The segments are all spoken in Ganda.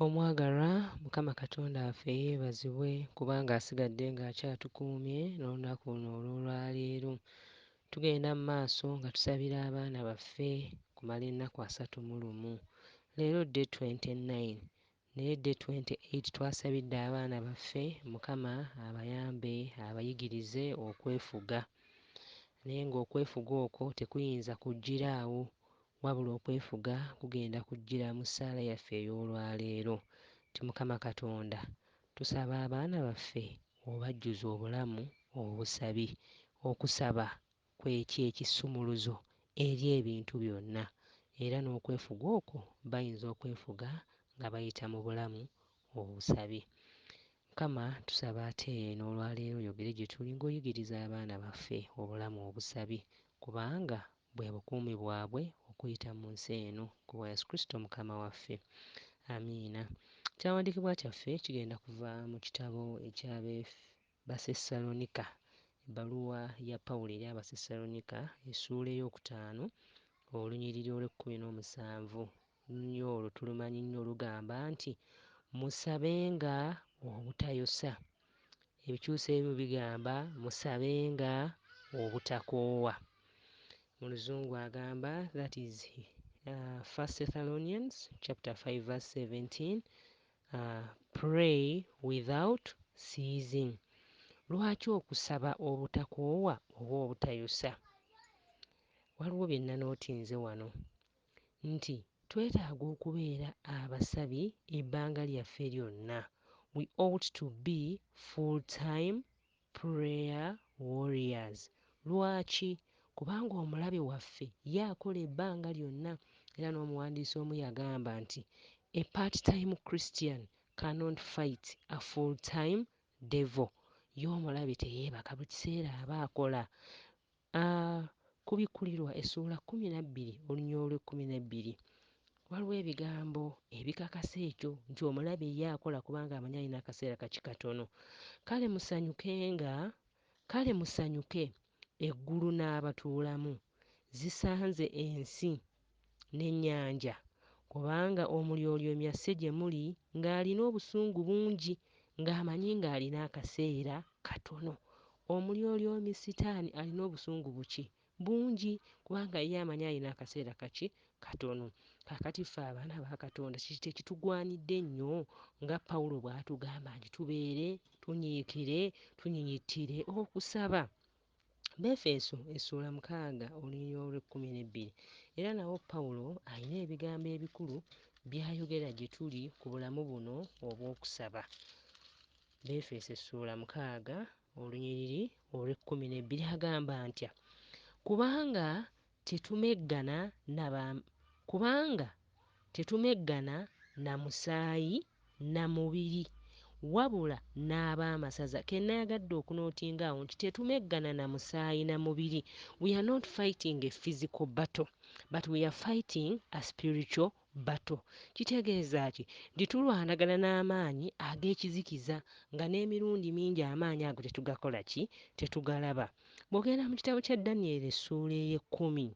Omwagalwa mukama katonda waffe yebazibwe kubanga asigadde nga akyatukuumye n'olunaku luno olw'olwaleero. Tugenda mu maaso nga tusabira abaana baffe kumala ennaku asatu mu lumu. Leero day 29 naye day 28 twasabidde abaana baffe mukama abayambe abayigirize okwefuga naye ng'okwefuga okwo tekuyinza kujjira awo Wabula okwefuga kugenda kujjira mu ssaala yaffe ey'olwaleero nti Mukama Katonda tusaba abaana baffe obajjuze obulamu obusabi. Okusaba kwe ky'ekisumuluzo eri ebintu byonna era n'okwefuga okwo bayinza okwefuga nga bayita mu bulamu obusabi. Mukama tusaba ate n'olwaleero oyogere gye tuli ng'oyigiriza abaana baffe obulamu obusabi kubanga Bwe bukuumi bwabwe okuyita mu nsi eno, ku bwa Yesu Kristo Mukama waffe. Amiina. Ekyawandiikibwa kyaffe kigenda kuva mu kitabo eky'Abebasessalonika, ebbaluwa ya Pawulo eri Abasessalonika, essuula ey'okutaano, olunyiriri olw'ekkumi n'omusanvu, nnyo olwo tulumanyi nnyo olugamba nti musabenga obutayosa. Ebikyusa ebimu bigamba musabenga obutakoowa. Mu luzungu agamba that is uh, 1 Thessalonians chapter 5 verse 17 uh, pray without ceasing. Lwaki okusaba obutakoowa oba obutayosa? Waliwo bye nanootinze wano. nti twetaaga okubeera abasabi ebbanga lyaffe lyonna, we ought to be full time prayer warriors. Lwaki? Kubanga omulabe waffe ye akola ebbanga lyonna era n'omuwandiisi omu yagamba nti, A part time Christian cannot fight a full time devil. Ye omulabe teyeebaka buli kiseera aba akola. A. Okubikkulirwa essuula kkumi na bbiri oluny. Olw'ekkumi n'ebbiri, waliwo ebigambo ebikakasa ekyo nti omulabe ye akola kubanga amanyi alina akaseera kaki katono. Kale musanyukenga, kale musanyuke, eggulu n'abatuulamu, zisanze ensi n'ennyanja, kubanga Omulyolyoomya si gye muli ng'alina obusungu bungi, ng'amanyi ng'alina akaseera katono. Omulyolyomi Sitaani alina obusungu buki? Bungi, kubanga ye amanyi alina akaseera kaki? Katono. Kaakati ffe abaana ba Katonda kiki tekitugwanidde nnyo nga Pawulo bw'atugamba nti tubeere tunyiikire, tunyinyittire okusaba? Befeeso essuula mukaaga olunyiriri olw'ekkumi n'ebbiri era nawo Pawulo alina ebigambo ebikulu by'ayogera gye tuli ku bulamu buno obw'okusaba. Befeeso essuula mukaaga olunyiriri olw'ekkumi n'ebbiri agamba ntya? Kubanga tetumeggana na ba kubanga tetumeggana na musaayi na mubiri wabula n'ab'amasaza ke nnayagadde okunootinga awo nti tetumeggana na musaayi na mubiri we are not fighting a physical battle but we are fighting a spiritual Bato. Kitegeeza ki? Nti tulwanagana n'amaanyi ag'ekizikiza, nga n'emirundi mingi amaanyi ago tetugakola ki? Tetugalaba. Bw'ogenda mu kitabo kya Danyeri essuula ey'ekkumi,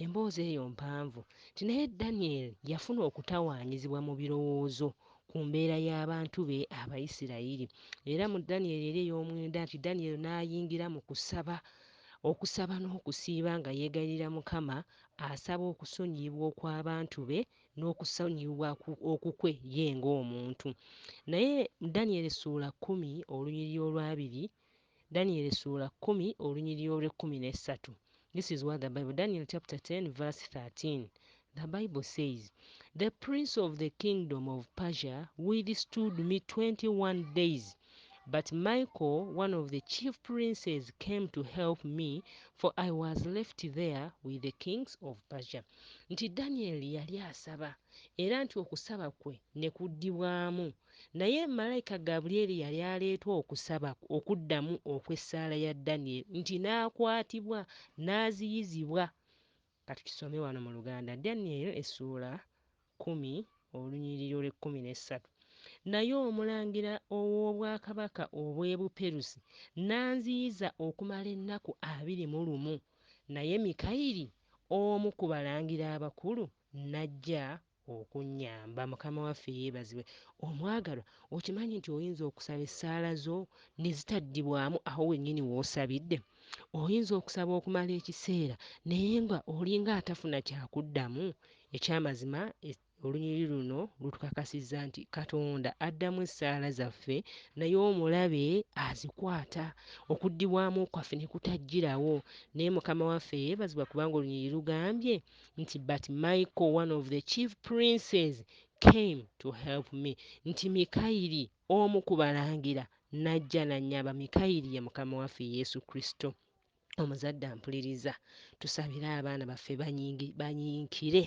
emboozi eyo mpanvu, nti naye Danyeri yafuna okutawaanyizibwa mu birowoozo ku mbeera y'abantu be Abayisirayiri. Era mu Danyeri eri ey'omwenda nti Danyeri n'ayingira mu kusaba, okusaba n'okusiiba nga yeegayirira Mukama Asaba okusonyiyibwa okw'abantu be n'okusonyiyibwa okukwe ye ng'omuntu. Naye Danyeri essuula kkumi olunyiriri olw'abiri, Danyeri essuula kkumi olunyiriri olw'ekkumi n'essatu, this is what the Bible, Daniel chapter 10 verse 13, the Bible says, The prince of the kingdom of Persia withstood me 21 days, but Michael one of the chief princes came to help me for I was left there with the kings of Persia nti Daniel yali asaba era nti okusaba kwe ne kuddibwamu naye malayika Gabriel yali aleetwa okusaba okuddamu okw'essaala ya Daniel nti n'akwatibwa n'aziyizibwa Ka tukisome wano mu Luganda. Danyeri essuula kkumi olunyiriri olw'ekkumi n'essatu, Naye omulangira ow'obwakabaka obw'e Buperusi n'anziyiza okumala ennaku abiri mu lumu, naye Mikayiri omu ku balangira abakulu n'ajja Okunnyamba. Mukama waffe yeebazibwe. Omwagalwa, okimanyi nti oyinza okusaba essaala zo ne zitaddibwamu awo wennyini w'osabidde? Oyinza okusaba okumala ekiseera naye nga olinga atafuna kya kuddamu? Eky'amazima, olunyiriri luno lutukakasizza nti Katonda addamu essaala zaffe naye omulabe azikwata, okuddibwamu kwaffe ne kutajjirawo. Naye Mukama waffe yeebazibwa kubanga olunyiriri lugambye, nti but michael one of the chief princes came to help me nti mikayiri omu ku balangira najja nanyaba mikayiri ye mukama waffe yesu kristo omuzadde ampuliriza tusabire abaana baffe banyinkire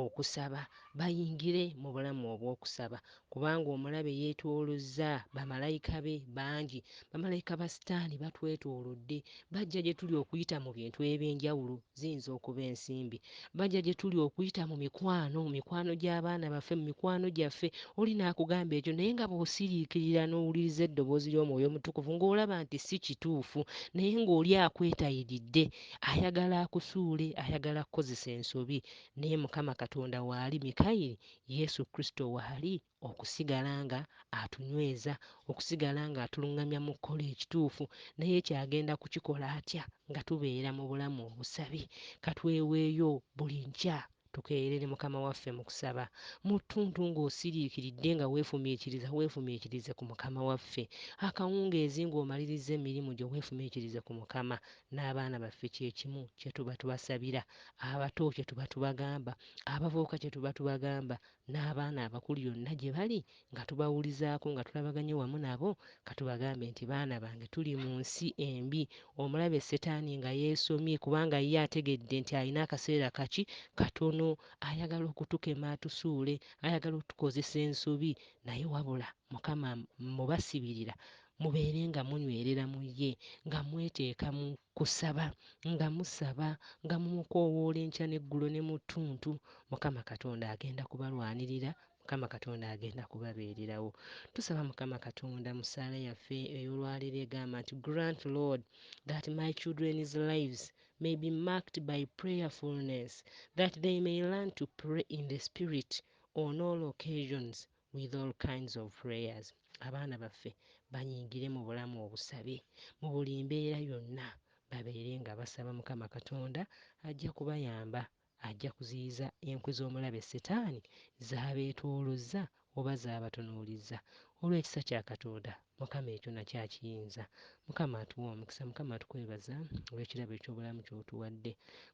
okusaba bayingire mu bulamu obw'okusaba Kubanga omulabe yeetoolozza bamalayika be bangi. Bamalayika ba Sitaani batwetoolodde. Bajja gye tuli okuyita mu bintu eby'enjawulo. Ziyinza okuba ensimbi. Bajja gye tuli okuyita mu mikwano, mu mikwano gy'abaana baffe, mu mikwano gyaffe. Oli n'akugamba ekyo, naye nga bw'osiriikirira n'owuliriza eddoboozi ly'Omwoyo Omutukuvu, ng'olaba nti si kituufu, naye ng'oli akwetayiridde, ayagala akusuule, ayagala kukozesa ensobi. Naye Mukama Katonda waali, Mikayiri Yesu Kristo waali okusigala nga atunyweza, okusigala nga atulungamya mu kukola ekituufu. Naye ekyo agenda kukikola atya nga tubeera mu bulamu obusabi? Ka tweweeyo buli nkya tukeeyerere Mukama waffe mu kusaba. Mu ttuntu nga osiriikiridde nga weefumiitiriza, weefumiitirize ku Mukama waffe. Akawungeezi nga omalirizza emirimu gyo weefumiitirize ku Mukama. N'abaana baffe kye kimu kye tuba tubasabira, abato kye tuba tubagamba. Abavubuka kye tuba tubagamba n'abaana abakulu yonna gye bali nga tubawulizaako nga tulabaganye wamu nabo, ka tubagambe nti, Baana bange tuli mu nsi embi, omulabe Setaani nga yeesomye kubanga ye ategedde nti alina akaseera kaki katono ayagala okutukema atusuule, ayagala otukozesa ensobi naye wabula Mukama mmubasibirira mubeere nga munywerera mu ye nga mweteeka mu. Kusaba, nga musaba, nga mumukoowoola enkya n'eggulo ne mu ttuntu, Mukama Katonda agenda kubalwanirira, Mukama Katonda agenda kubabeererawo. Tusaba, Mukama Katonda, mu ssaala yaffe ey'olwaleero egamba nti, Grant, Lord, that my children's lives may be marked by prayerfulness, that they may learn to pray in the Spirit on all occasions, with all kinds of prayers abaana baffe banyingire mu bulamu obusabe mu buli mbeera yonna babeere nga basaba mukama katonda ajja kubayamba ajja kuziyiza enkwe z'omulabe setaani zabeetoolozza oba zabatunuulizza olw'ekisa kya katonda Mukama ekyo nakyo akiyinza. Mukama atuwe omukisa mukama tukwebaza olwekirabo ekyobulamu kyotuwadde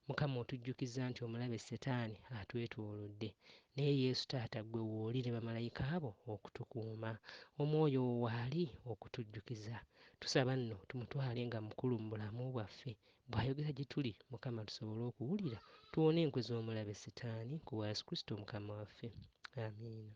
mukama otujjukizza nti omulabe setani atwetolodde naye yesu taata gwe wooli ne bamalayika bo okutukuuma omwoyo wo waali okutujjukiza tusaba nno tumutwale nga mukulu mu bulamu bwaffe bwayogera gyetuli mukama tusobole okuwulira tuwone enkwe zomulabe setani kubwa yesu kristo mukama waffe amiina.